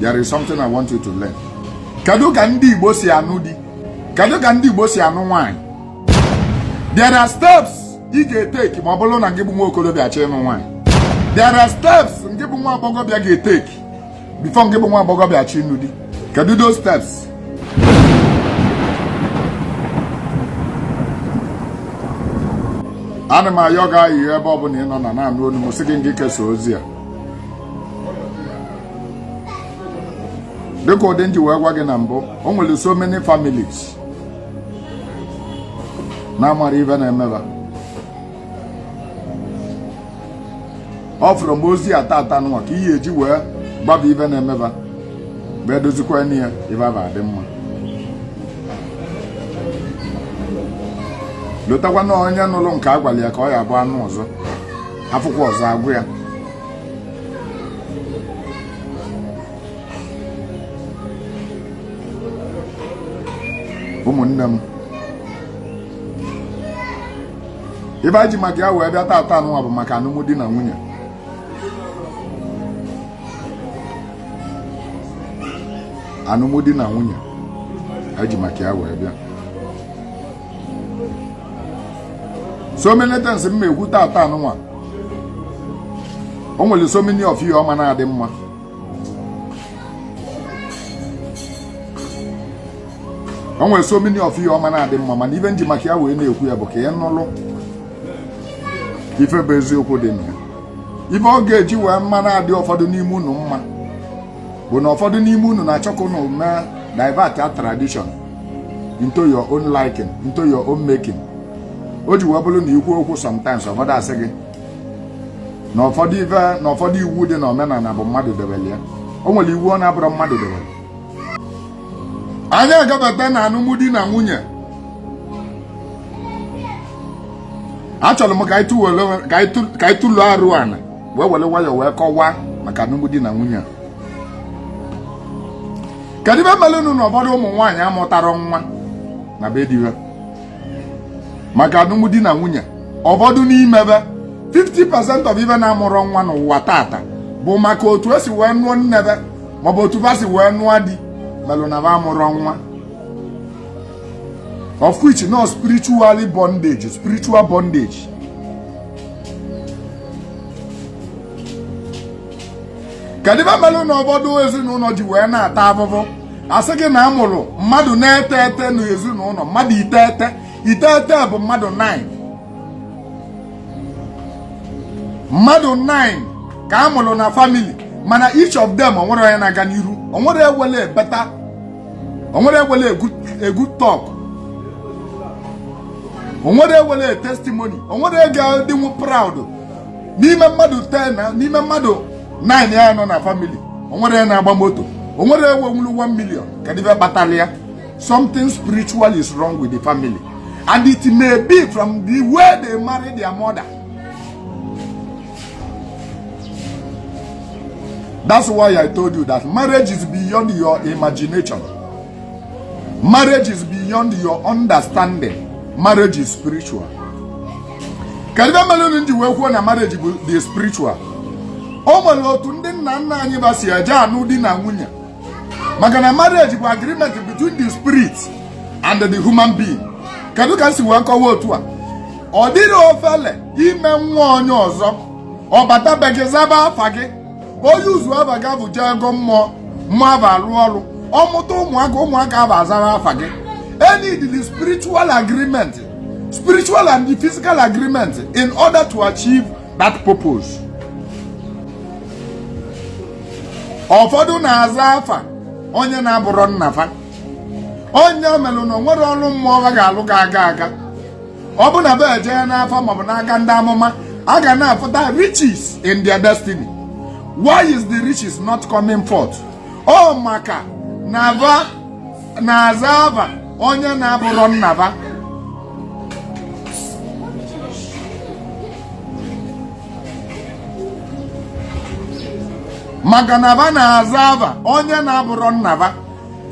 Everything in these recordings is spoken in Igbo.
There is something I want you to learn. Kedu ka ndị Igbo si anụ di? Kedu ka ndị Igbo si anụ nwaanyị? There are steps ị ga-etake ma ọ bụrụ na gị bụ nwa okorobịa chọọ ịnụ nwaanyị. There are steps ngị bụ nwa agbọghọbịa ga-etake before ngị bụ nwa agbọghọbịa chọọ ịnụ di. Kedu those steps? ana m ayọ gị ayịyọ ebe ọ bụla ị nọ na na-anụ onu m sị gị ngị kesaa ozi a dịka ụdị nji wee gwa gị na mbụ o nwere so many families na-amarọ ife na-eme va ọ fụrụ m ozi a tata anụnwa ka ihe eji wee gbaba ife na-eme va bụ edozikwanụ ya ife va adị mma lotakwa na onye nụrụ nke a gwara ya ka ọ ya-abụ anụ ọzọ afụkwa ọzọ agwa ya ụmụnne m ife anyị ji maka ya wee bịa taata anụnwa bụ maka anụmdi na nwunye anụmdi na nwunye anyị ji maka ya wee bịa so many things m ga-ekwu tata anụnwa o nwere so many of you ọ ma na-adị mma o nwere so many of you ọ ma na-adị mma mana ife nji maka ya wee na-ekwu ya bụ ka ị nụlụ ife bụ eziokwu dị na ya ife ọ ga-eji wee ma na-adị ụfọdụ n'ime unu mma bụ na ụfọdụ n'ime unu na-achọ ka unu mee divert a tradition into your own liking into your own making o ji wee bụrụ na i kwu okwu sometimes ụfọdụ asị gị na ụfọdụ iwu dị na omenala bụ mmadụ debere ya o nwere iwu na-abụrọ mmadụ debere anyị agabata na alụmdi na nwunye achọrọ m ka anyị tụlụ arụ ana wee were nwayọọ wee kọwaa maka alụmdi na nwunye a kedu ife merenụ na ụfọdụ ụmụ nwaanyị amụtarọ nwa na be di ha maka alụmdi na nwunye ụfọdụ n'ime ha 50% of va na-amụrọ nwa n'ụwa tata bụ maka otu esi wee nụọ nne ha maọbụ otu ha si wee nụọ di melụ na ha amụrọ nwa of which nọ spiritual na spiritual bondage kedu ive melu na ụfọdụ ezinụlọ ji wee na-ata afụfụ asị gị na a mụrụ mmadụ iteghete na ezinụlọ mmadụ iteghete iteghete bụ mmadụ 9 mmadụ 9 ka a mụrụ na family mana each of them onwerọ onye na-aga n'iru onwerọ nwelu a better onwerọ nwelu a good talk onwerọ nwelu a testimony onwerọ ga-adịnwu proud n'ime mmadụ 10 n'ime mmadụ 9 a nọ na family onwerọ na-agba moto onwerọ nwenwulu 1 million kedu ive kpatalu ya something spiritual is wrong with the family and it may be from the way they marry their mother That's why I told you that marriage is beyond your imagination. Marriage is beyond your understanding. Marriage is spiritual. Kedu ive melu m ji wee kwuo na marriage dị spiritual? O nwere otu ndị nna nna anyị va si eje anụ di na nwunye maka na marriage bụ agreement between the spirit and the human being kedu ka m si wee kọwa otu a ọ dịrọ ofele ime nwa onye ọzọ ọ bata be gị zaba afa gị ọ use afa gị avụ jee gọọ mmụọ mmụọ avụ alụọ ọrụ ọ mụta ụmụaka ụmụaka avụ azara afa gị e needili spiritual agreement spiritual and physical agreement in order to achieve that purpose ụfọdụ na-aza afa onye na-abụrọ nna fa ọ nya melụ na onwerọ ọrụ mmụọ ha ga-alụ ga-aga aga ọ bụ na va eje ya n'afa maọbụ n'aka ndị amụma a ga na-afụta riches in their destiny why is the riches not coming forth ọ maka na va na-aza ava onye na-abụrọ nna va maka na va na-aza ava onye na-abụrọ nna va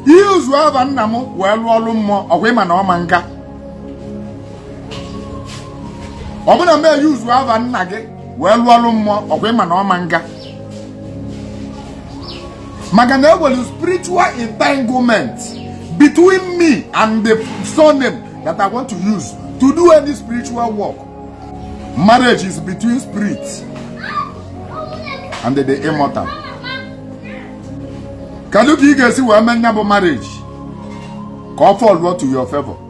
ị use ava nna m wee lụọ ọlụ mmụọ ọkwa ị ma na ọ ma-aga ọ bụ na m use ava nna gị wee lụọ ọlụ mmụọ ọkwa ị ma na ọ ma-aga maka na enwelu spiritual entanglement between me and the surname that I want to use to do any spiritual work marriage is between spirit and the immortal kedu ka ị ga-esi wee mee nya bụ marriage ka ọ fall to your favor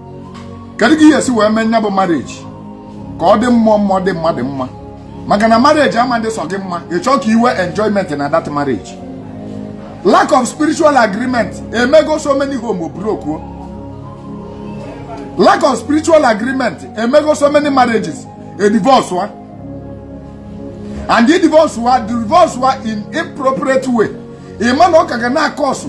kedu ka ị ya-esi wee mee nya bụ marriage ka ọ dị mmụọ mma dị mmadụ mma maka na marriage ama adị sọ gị mma ị chọọ ka i nwee enjoyment na that marriage lack of spiritual agreement emego so many home broke lack of spiritual agreement emego so many marriages a divorce wa and the divorce wa divorce wa in inappropriate way ị ma na ọ ka ga na-akọsụ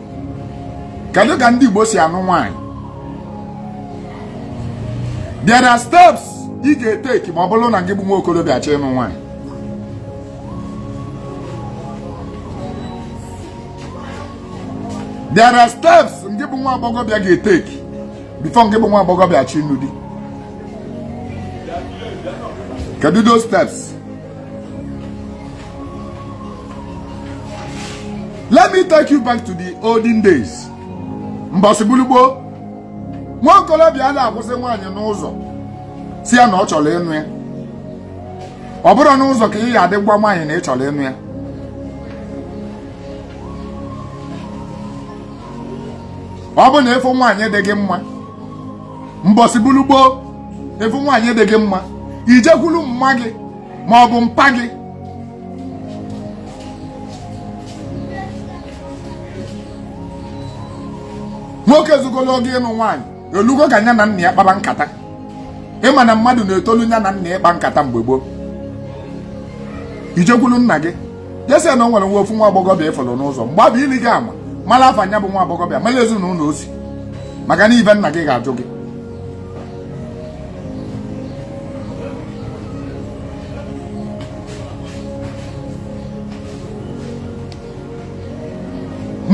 kedu ka ndị Igbo si anụ nwaanyị there are steps ị ga-eteki ma ọ bụrụ na ngị bụ nwa okorobịa chọọ ịnụ nwaanyị there are steps ngị bụ nwa agbọghọbịa ga-eteki before ngị bụ nwa agbọghọbịa achọọ ịnụ di kedu those steps let me take you back to the olden days mbọsị bụlụ gboo nwa okorobịa ana-akwụsị nwaanyị n'ụzọ sị ya na ọ chọrọ ịnụ ya ọ bụrọ n'ụzọ ka ị ga-adị gwa nwaanyị na ị chọrọ ịnụ ya ọ bụ na ị fụ nwaanyị dị gị mma mbọsị bụlụ gboo ị fụ nwaanyị dị gị mma i jekwuru mma gị ma ọ bụ mpa gị nwoke zugolo oge ịnụ nwaanyị elugo ka nya na nna ya kpaba nkata ị ma na mmadụ na-etolu nya na nna ịkpa nkata mgbe gboo i jekwulu nna gị je sị na o nwere nwa ofu nwa agbọghọbịa ị fụrụ n'ụzọ mgbe abụ ili gị ama mara afa nya bụ nwa agbọghọbịa mara ezinụlọ o si maka na ive nna gị ga-ajụ gị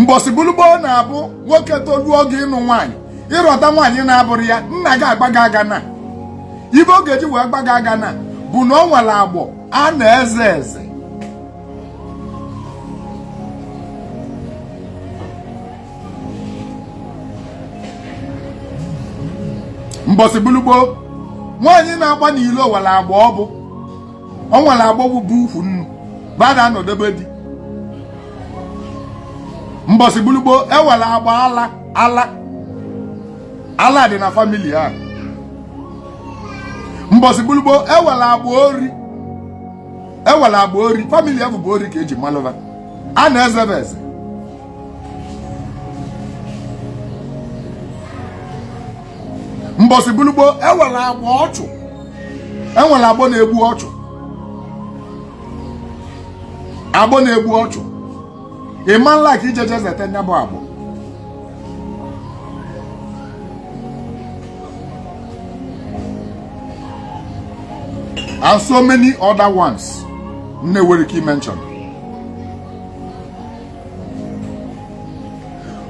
mbọsị bụlụ gboo na-abụ nwoke toluo oge ịnụ nwaanyị ị rọta nwaanyị na-abụrọ ya nna gị agba gị agana ive ọ ga-eji wee gba gị agana bụ na o nwere agbọ a na-eze eze mbọsị bụlụ gboo nwaanyị na-agba n'ilo nwere agbọ o bu o nwere agbọ bụbu ukwu nnu ba ada anọde be di mbọsị bụlụ gboo e nwere agbọ ala ala ala dị na family a mbọsị bụlụ gboo e nwere agbọ ori family ya bụbu ori ka e ji malụ va a na-ezebe eze mbọsị bụlụ gboo enwere agbọ ọchụ enwere agbọ na-egbu ọchụ agbọ na-egbu ọchụ ịma nla ka ijeje zete nya bụ agbọ and so many other ones m na-enwere ike ị mention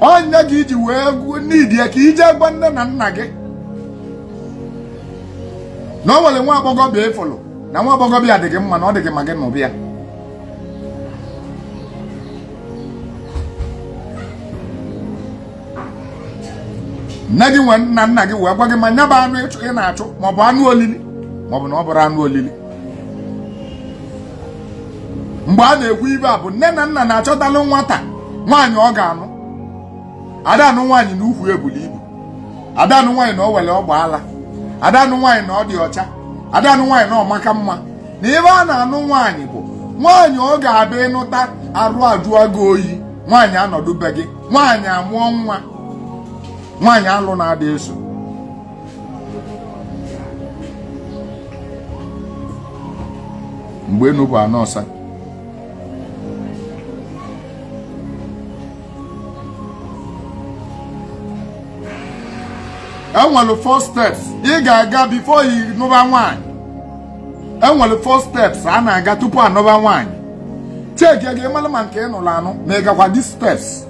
ọ nya ka iji wee need ya ka ije gwa nne na nna gị na o nwere nwa agbọghọbịa ịfụlụ na nwa agbọghọbịa dị gị mma na ọ dị gị ma gị nụba ya nne gị nwa na nna gị wee gwa gị ma nya bụ anụ ị na-achụ maọbụ anụ olili maọbụ na ọ bụrọ anụ olili mgbe a na-ekwu ibe a bụ nne na nna na-achọtalụ nwata nwaanyị ọ ga-anụ ada anụ nwaanyị na ukwu ebuli ibu ada anụ nwaanyị na o nwere ọgba ala ada anụ nwaanyị na ọ dị ọcha ada anụ nwaanyị na ọ maka mma na ebe a na-anụ nwaanyị bụ nwaanyị ọ ga-abụ ị nụta arụ ajụọ gị oyi nwaanyị anọdụ be gị nwaanyị amụọ nwa nwaanyị alụ na-ada eso mgbe enu bụ ana ọsa enwere four steps ị ga-aga before ị nụba nwaanyị enwere four steps a na-aga tupu anụba nwaanyị check ka ị mara ma nke ị nụrụ anụ ma ị gakwa these steps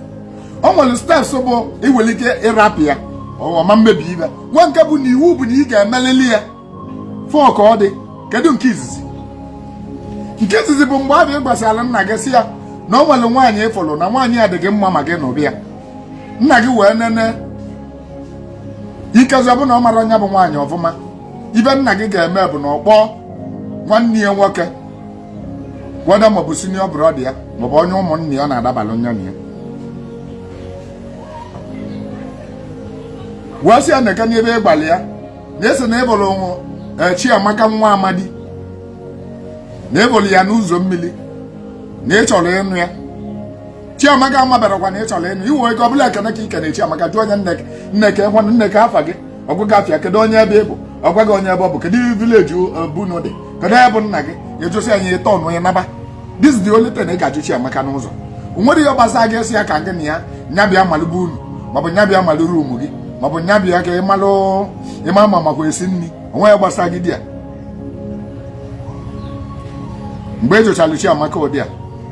o nwere steps bụ ị nwere ike ịrapụ ya ọ ma emebi ibe nwee nke bụ na iwu bụ na ị ga-emelili ya four ka ọ dị kedu nke izizi nke izizi bụ mgbe a bụ ị gwasịala nna gị sị ya na o nwere nwaanyị ịfụrụ na nwaanyị ya dị gị mma ma gị nụba ya nna gị wee nene ikezi ọ bụ na ọ mara onye bụ nwaanyị ọfụma ibe nna gị ga-eme bụ na ọ kpọọ nwanne ya nwoke whether maọbụ senior brother ya maọbụ onye ụmụnne ya ọ na-adabalụ nya na ya wee sị ya neke n'ebe ịgbalị ya na ese na ịbụrụ e, Chiamaka nwa Amadi na ịbụrụ ya n'ụzọ mmiri na ị chọrọ ịnụ ya Chiamaka amaberọkwa na ị chọrọ ịnụ iwe ego ọbụla ekene ka ikene Chiamaka jụọ nya nne kee nne kee nwanne nne kee afa gị ọ gwa gị afa ya kedu onye ebe ị bụ ọ gwa gị onye ebe ọ bụ kedu village be unu dị kedu onye bụ nna gị ị jụsịa ya ịtọ nụnwa ị naba this is the only thing ị ga-ajụ Chiamaka n'ụzọ o nwerọ ihe gbasa gị ị sị ya ka gị na ya nya bịa malụ be unu maọbụ nya bịa malụ room gị maọbụ nya bịa ka ị malụ ma ọ makwa esi nri o nwerọ ihe gbasa gị dị ya mgbe ị jụchara Chiamaka ụdị a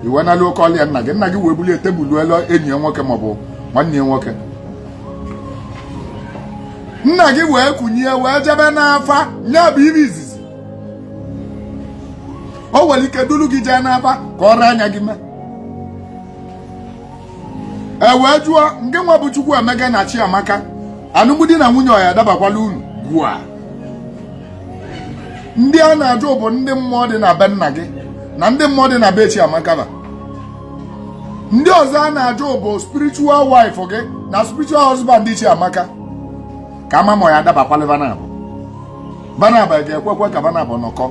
i wee nalu ị kọọlụ ya nna gị nna gị wee bulie tebụl elu enyi ya nwoke maọbụ nwanne ya nwoke nna gị wee kunie wee jebe n'afa nya bụ ive izizi o nwere ike duru gị jee n'afa ka ọ anya gị mee e wee jụọ ngị nwa bụ Chukwuemeka na Chiamaka alụmdi na nwunye ọ ya-adabakwalụ unu gwa ndị a na-ajụ bụ ndị mmụọ dị na be nna gị na ndị mmụọ dị na be Chiamaka ba ndị ọzọ a na-ajụ bụ spiritual wife gị na spiritual husband Chiamaka ka a ma ma ọ ya-adabakwalụ va nabọ va nabọ ga-ekwekwa ka va nabọ nọkọọ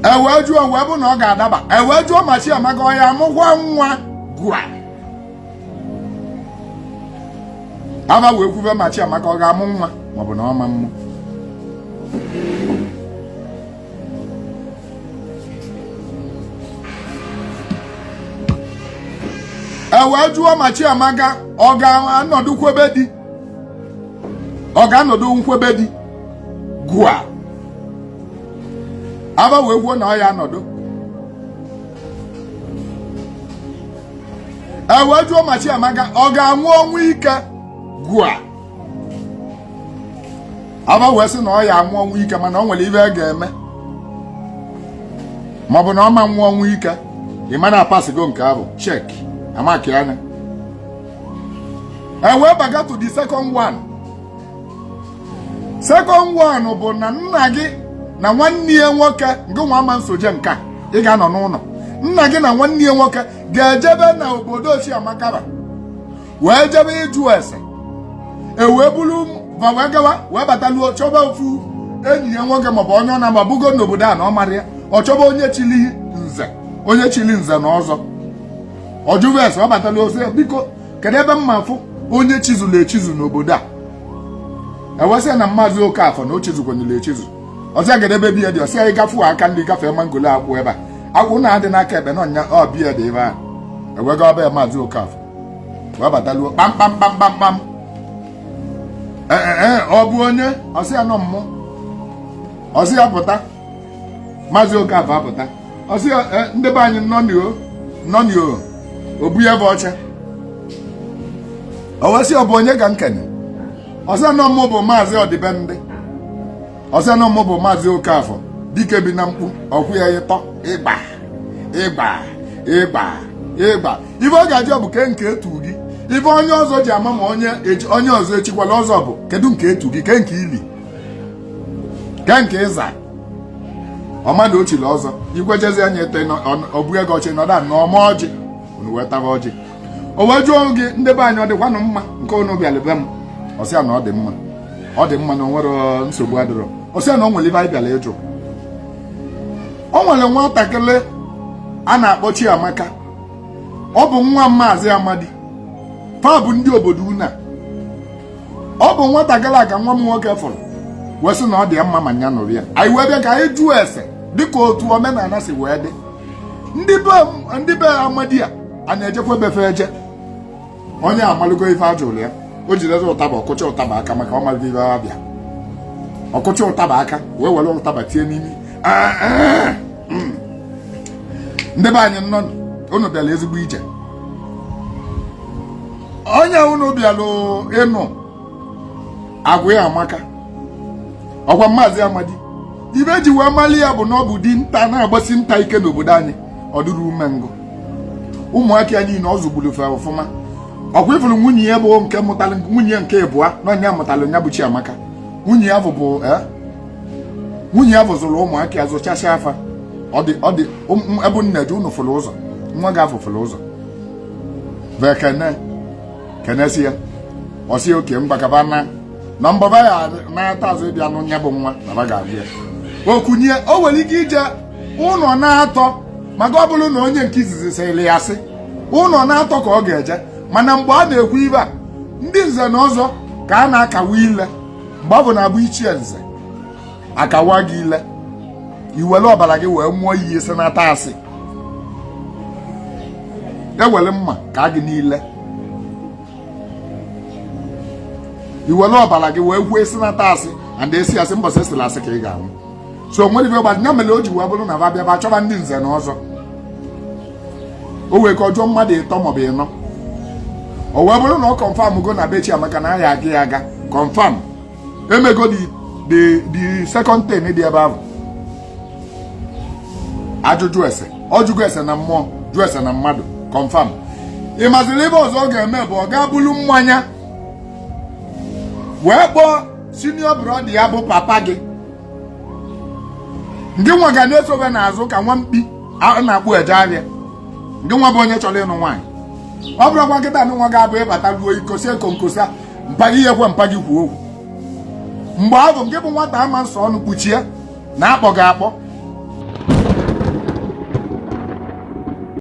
e wee jụọ wee vụ na ọ ga-adaba e wee jụọ ma Chiamaka ọ ya-amụkwa nwa gwa ava wee kwube ma Chiamaka ọ ga-amụ nwa maọbụ na ọ ma mmụ e wee jụọ ma Chiamaka ọ ga-anọdụkwa be di ọ ga-anọdụkwa be di gụa ava wee kwuo na ọ ya-anọdụ e wee jụọ ma Chiamaka ọ ga-anwụ ọnwụ ike gụa ava wee sị na ọ ya-anwụ ọnwụ ike mana o nwere ive a ga-eme maọbụ na ọ ma nwụ ọnwụ ike ị ma na a passịgo nke ahụ check a markịa nya e wee baga to the second one second one bụ na nna gị na nwanne ya nwoke ngị nwa ama nsoje ngị ga-anọ n'ụnọ nna gị na nwanne ya nwoke ga-ejebe na obodo Chiamaka wee jebe ịjụ ese e wee bụrụ ma wee gawa wee bataluo chọba ofu enyi ya nwoke maọbụ onye ọ na-amabugo n'obodo a na ọ mara ya ọ chọba onye chili nze onye chili nze na ọzọ ọ jụrụ ese ọ bataluo sị biko kedu ebe m ya-afụ onye chizuru echizu n'obodo a e wee sị ya na maazị Okafor na o chizukwanyere echizu ọ sị ya kedu ebe be ya dị ọ sị ya ị gafee aka nri gafee mangolo akwụ ebe a akwụ na-adị n'aka ekpe na ọ nya be ya dị ebe a e wee gaa be ya maazị Okafor wee bataluo kpamkpam kpamkpam kpam ee eh, eh, eh, ọ bụ onye ọ sị ya na ọ mụ ọ sị ya pụta maazị Okafor apụta ọ sị ya ndị be anyị nnọọnị o nnọọnị o obu ya bụ ọcha o wee sị ọ bụ onye ka nkenị ọ sị ya na ọ mụ bụ maazị Ọdịbendị ọ sị ya na ọ mụ bụ maazị Okafọ dike bi na mkpu ọ kụọ ya ịtọ ịgba ịgba ịgba ịgba ife ọ ga-ajụ bụ kee nke e tu gị ife onye ọzọ ji ama ma onye onye ọzọ echikwala ọzọ bụ kedu nke e tu gị kee nke i li kee nke ị za ọ madụ o chili ọzọ ikwejezi anya ete o bunye gị oche nọda ana ọ waa ọjị unu wee taba ọjị o wee jụọ gị ndị be anyị ọ dịkwanụ mma nke unu bịara be m ọ sị ya na ọ dị mma ọ dị mma na o nwere nsogbu adịrọ ọ sị ya na o nwere ife anyị bịara ịjụ o nwere nwatakịrị a na-akpọ Chiamaka ọ bụ nwa maazị Amadi fa bụ ndị obodo unu ọ bụ nwatakịrị a ka nwa m nwoke fụrụ wee sị na ọ dị ya mma ma nya nụọ ya anyị wee bịa ka anyị jụọ ese dịka otu omenala si wee dị ndị be ndị be amadi a a na-ejekwa be fa eje onye a malugo ife a jụrụ ya o jidere ụtaba ọ kụcha ụtaba aka maka ọ malite ife a bịa ọ kụcha ụtaba aka wee were ụtaba tie n'imi ah, ah, hmm. ndị be anyị nnọọ unu bịara ezigbo ije onye unu bịara ịnụ agwa ya amaka ọ kwa maazị Amadi ife e ji wee mali ya bụ na ọ bụ dinta na-agbasi nta ike n'obodo anyị ọ dịrọ umengwụ ụmụaka ya niile ọ zụgburu fa ọfụma ọ kwa ị fụrụ nwunye ya bụ nke mụtara nwunye nke ịbụa na ọ nya mụtara nya bụ Chiamaka nwunye ya bụ eh, nwunye ya bụ zụrụ ụmụaka ya zụchasịa fa ọ dị ọ dị ebe nne dị unu fụrụ ụzọ nwa gị afụ fụrụ ụzọ vekene kenesịa ya ọ sị okay ngwa ka ba naa na mbọ ba ya-anata azụ ịbịa nụ nya bụ nwa na ba ga-abịa ya okunye o nwere ike ije ụnọ na-atọ maka ọ bụrụ na onye nke izizi sịrị asị ụnọ na-atọ ka ọ ga-eje mana mgbe a na-ekwu ife a ndị nze na ọzọ ka a na-akawa ile mgbe ọ bụ na-abụ ichie nze akawa gị ile i were ọbara gị wee ṅụọ iyi sị n'ata asị e were mma kaa gị n'ile i were ọbara gị wee ṅụọ sị n'ata asị and ị sị asị mbọsị ị sịla asị ka ị ga-anwụ so o nwere ife gbadị ya mere o ji wee bụrụ na ba bịa ba chọba ndị nze na ọzọ o wee gaa jụọ mmadụ ịtọ maọbụ ịnọ o wee bụrụ na ọ confirm go na be Chiamaka na a ya-aga ya aga confirm emego the second thing dị ebe ahụ ajụjụ ese ọ jụgo ese na mmụọ jụ ese na mmadụ confirm ị mazịrị ihe ọzọ ọ ga-eme bụ ọ ga-ebulu mmanya wee kpọọ senior brother ya bụ papa gị ngị nwa ga na-esobe n'azụ ka nwa mkpi a na-akpụ eje ahịa ngị nwa bụ onye chọrọ ịnụ nwaanyị ọ bụrụkwa nkịta ngị nwa ga-abụ ịbata ruo ikosi ekonkosa mpa gị i kwe mpa gị kwuo okwu mgbe ahụ gị bụ nwata ama nsọ ọnụ kpuchie na-akpọ gị akpọ